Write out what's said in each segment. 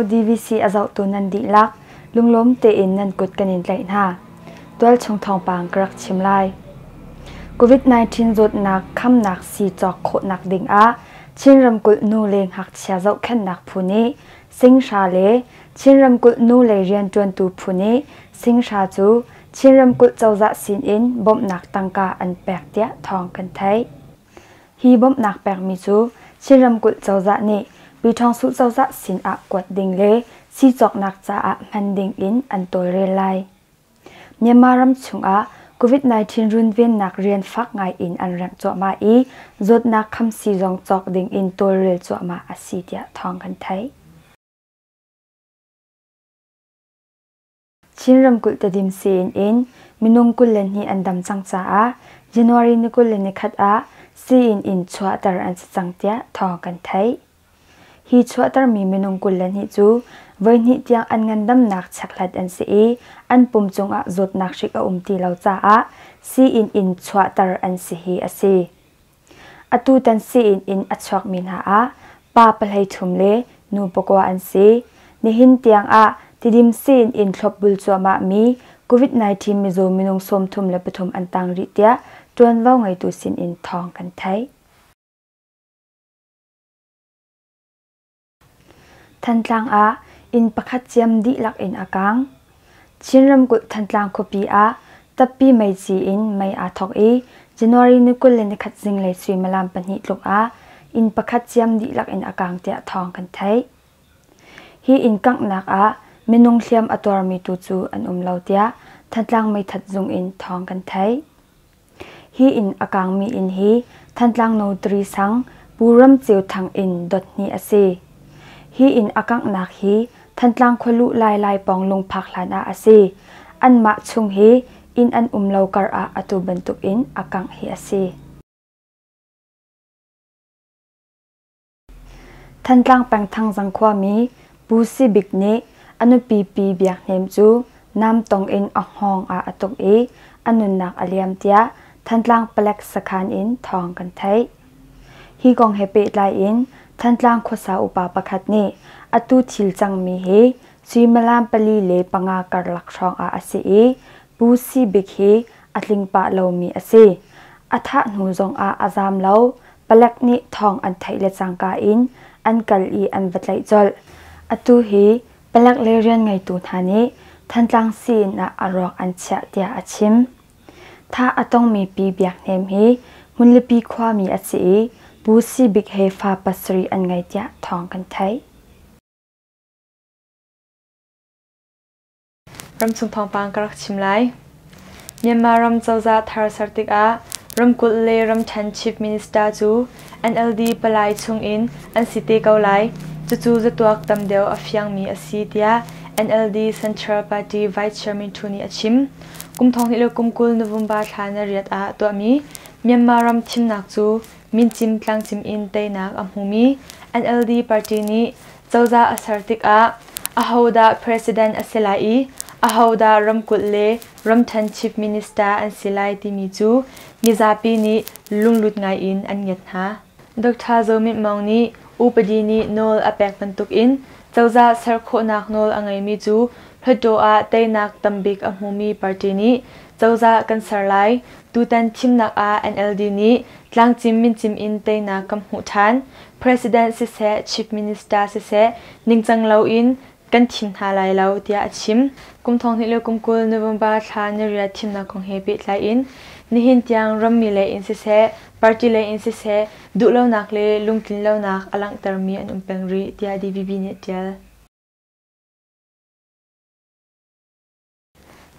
DVC a zohtu nan dihlak lunglawm tein nan kut kan in tlaih hna. Tualchung thawngpang ka rak chim lai. COVID-19 zawtnak khamnak sii cawk khawhnak ding ah Chin ramkulh nu le ngakchia zohkhenhnak phu nih singhra le Chin ramkulh nu le rianṭuantu phu nih singhra cu Chin ramkulh cozah sinin bawmhnak tangka an pek tiah thawng kan theih. Hi bawmhnak pekmi cu Chin ramkulh cozah nih Pyithawngsu cozah sinah kuat ding le si cawknak caah hman dingin an tawlrel lai. Myanmar ram chungah COVID-19 runvennak rian fak ngaiin an remh cuahmah i zawtnak khamsi zong cawk dingin tawlrel cuahmah a si tiah thawng kan theih. Chin ramkulh Tedim sii-inn in minung kul le hnih an dam cang caah January ni kul le ni khat ah sii-inn in chuahter an si cang tiah thawng kan theih. Hi chuahtermi minung kul le hnih cu voihnih tiang an ngandamnak chekhlat an si i an pum cungah zawtnak hrik a um ti lo caah sii-inn in chuahter an si hi a si. Atutan sii-inn in a chuakmi hna ah pa pahlei thum le nu pakua an si. Nihin tiangah Tidim sii-inn in thlopbul cuahmahmi COVID-19 mizaw minung sawmthum le pathum an tang rih tiah ṭuanvo ngeitu sinin thawng kan theih. Thantlang ah inn pakhat ciam dihlak in a kaang. Chin ramkulh Thantlang khuapi ah tappi meici in mei aa thawk i January ni kul le nikhat zinglei suimilam pahnih tluk ah inn pakhat ciam dihlak in a kaang tiah thawng kan theih. Hi inn kanghnak ah minung hliam a tuarmi tu cu an um lo tiah Thantlang Meithat Zung in thawng kan theih. Hi inn a kaangmi inn hi Thantlang Notary sang Pu Ram Ceu Thang inn dot hnih a si. Hi inn a kanghnak hi Thantlang khualuh lailai pawng lungphak hlan ah a si. Anmah chung hi inn an um lo kar ah atu bantuk in a kangh hi a si. Thantlang pengthang Zang khuami Pu Si Bik nih a nupi Pi Biak Hnem cu namtong in a hngawng ah a tuk i a nunnak a liam tiah Thantlang Palek sakhan in thawng kan theih. Hi kong he pehtlai in Thantlang khuasa upa pakhat nih atu thil cangmi hi suimilam pali le panga karlak hrawngah a si i Pu Si Bik hi a tling pah lomi a si. A thah hnu zongah a zaam lo. Palek nih thawng an theih le cangka in an kal i an va tlaih colh. Atu hi palek le rian ngeitu hna nih Thantlang sii-inn ah a rawk an chiah tiah a chim. Thah a tongmi pi Biak Hnem hi Hmunlipi khuami a si i Pu Si Bik he fa pasarih an ngei tiah thawng kan theih. Ramchung thawngpang ka rak chim lai. Myanmar ram cozah thar ser tikah ramkulh le ramṭhen chief minister cu NLD palai chungin an si te ko lai. Cucu zatuak tam deuh a fiangmi a si tiah NLD Central Party Vice Chairman ṭhu nih a chim. Kum thong hnih le kum kul November thla na riat ah tuahmi Myanmar ram thimnak cu min cim tlangcim in teinak a hmumi NLD party nih Cozah a ser tikah ahodah president a si lai i ahodah ramkulh le ramṭhen chief minister an si lai timi cu mizapi nih lunglut ngaiin an ngiat hna. Doctor Zo Mit Maung nih upadi nih nawl a pek bantukin cozah ser khawhnak nawl a ngeimi cu Hluttaw ah teinak tambik a hmumi party nih Cozah kan ser lai. Tutan thimnak ah NLD nih tlangcim mincim in teinak kan hmuh ṭhan. President siseh, Chief Minister siseh ningcang loin kan thim hna lai lo, tiah a chim. Kum thonghnih le kum kul November thla niriah thimnak kong he pehtlai in nihin tiang rammi lei in siseh, party lei in siseh duhlonak le lungtlinlonak a langhtermi an um peng rih, tiah DVB nih a ṭial.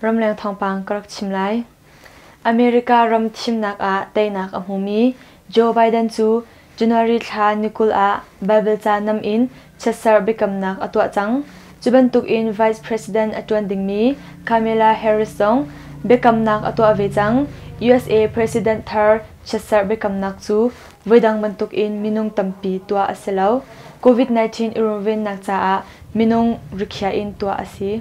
Ramleng thawngpang ka rak chim lai. America ram thimnak ah teinak a hmumi Joe Biden cu January thla ni kul ah Baibal ca nam in chiatserh biakamnak a tuah cang. Cu bantukin Vice President a ṭuan dingmi Kamala Harris zong biakamnak a tuah ve cang. USA President thar chiatserh biakamnak cu voidang bantukin minung tampi tuah a si lo. COVID-19 i runvennak caah minung rikhiah in tuah a si.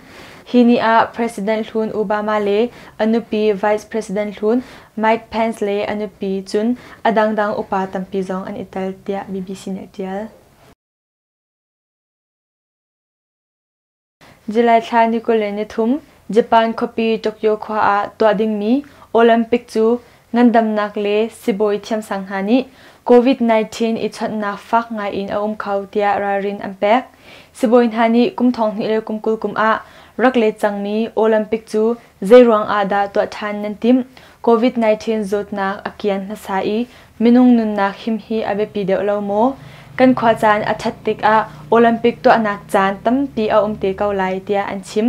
Hi ni ah President hlun Obama le a nupi Vice President hlun Mike Pence le a nupi cun a dangdang upa tampi zong an i tel tiah BBC nih a tial. July thla ni kul le ni thum Japan khuapi Tokyo khua ah tuah dingmi Olympic cu Ngandamnak le sibawi thiamsang hna nih COVID-19 i chawnhnak fak ngaiin a um kho tiah ralrin an pek. Sibawi hna nih kum thonghnih le kum kul kum ah rak let cangmi Olympic cu zeiruang ah dah tuah ṭhan nan timh? COVID-19 zawtnak a kian hmasa i minung nunnak him hi a biapi deuh lo maw? Kan khua caan a ṭhat tikah Olympic tuahnak caan tampi a um te ko lai tiah an chim.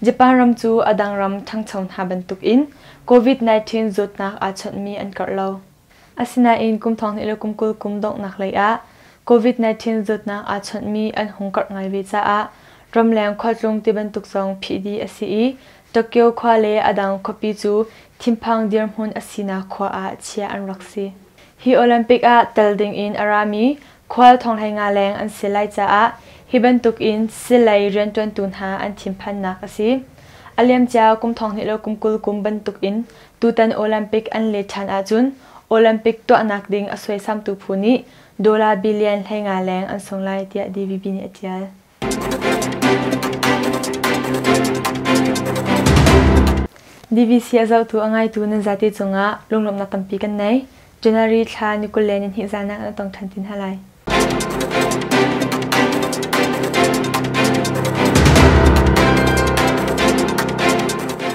Japan ram cu a dang ram ṭhangcho hna bantuk in COVID-19 zawtnak aa chawnhmi an karh lo. Asinain kum thonghnih le kum kul kum donghnak leiah COVID-19 zawtnak aa chawnhmi an hung karh ngai ve caah ramleng khualtlung tibantuk zong phih dih a si i Tokyo khua le a dang khuapi cu thinphang dirhmun a sinak khua ah chiah an rak si. Hi Olympic ah tel dingin a rami Khual thonghlei nga leng an si lai caah hi bantuk in silei rianṭuantu hna an thinphannak a si. A liamcia kum thonghnih le kum kul kum bantuk in tutan Olympic an let ṭhan ahcun Olympic tuahnak ding a suaisamtu phu nih dolar billion hlei nga leng an sung lai tiah DVB nih a ṭial. BBC a zohtu a ngaitu nan zate cungah lunglawmhnak tampi kan nei. January thla ni kul le nihnih zanak na tong ṭhan ti hna lai.